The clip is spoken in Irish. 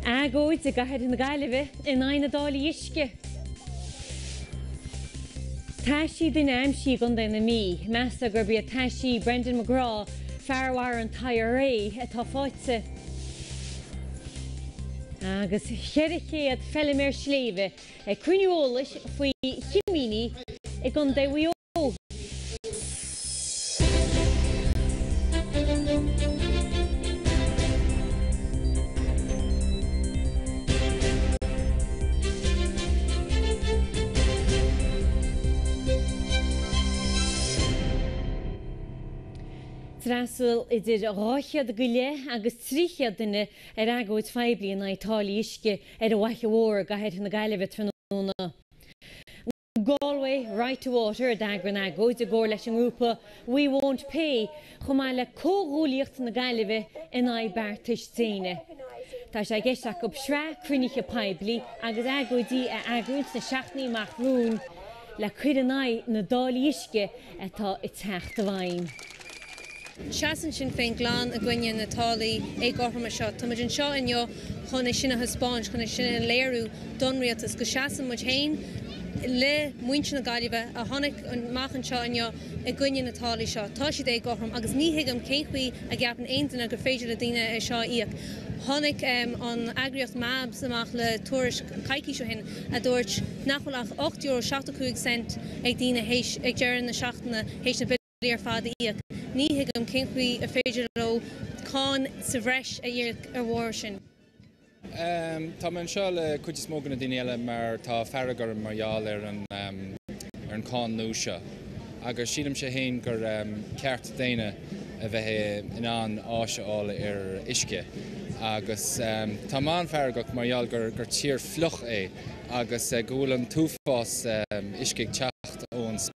Agóid i gCathair na Gaillimhe in aghaidh na dtáillí uisce. Taisí duine aimsithe i gContae na Mí. Meastar gurb iad taisí Brendan Megraw, fear a mharaigh an tIRA, atá fáighte. Agus 400 feilméar sléibhe ag cruinniú eolais faoi chimíní i gContae Mhaigh Eo. D'fhreastail idir dhá chéad go leith agus trí chéad duine ar agóid phoiblí in aghaidh táillí uisce ar an bhFaiche Mhór i gcathair na Gaillimhe tráthnóna. Galway Right to Water a d'eagraigh an agóid i gcomhair leis an ngrúpa We Won't Pay chomh maith le Comhghuaillíocht na Gaillimhe in aghaidh Beartas Déine. Tá sé i gceist acu sraith cruinnithe poiblí agus agóidí a eagrú sna seachtainí amach romhainn le cur in aghaidh na dtáillí uisce atá ag teacht i bhfeidhm. Seasann Sinn Féin glan i gcoinne na táillí éagcothroma seo. Tá muid anseo inniu chun é sin a thaispeáint, chun é sin a léiriú don Rialtas, go seasann muid féin le muintir na Gaillimhe a tháinig amach anseo inniu i gcoinne na táillí seo. Tá siad éagcothrom agus ní thuigim cén chaoi a gceapann aon duine gur féidir le daoine é seo a íoc. Tháinig an eagraíocht MABS amach le tuairisc coicís ó shin a dúirt nach bhfuil ach €8.75 ag daoine ag deireadh na seachtaine théis na billí ar fad a íoc. Ní thuigim cén chaoi ar féidir leo cáin sa bhreis a íoc ar bharr sin. Tá mé anseo le cuid is mó de na daoine eile mar tá fearg orm mar gheall ar an cáin nua seo agus sílimse fhéin gur ceart daonna a bheith in ann áis a fháil ar uisce agus tá mé an-fheargach mar gheall gur tír fliuch é agus go bhfuil an t-uafás uisce ag teacht ón spéir.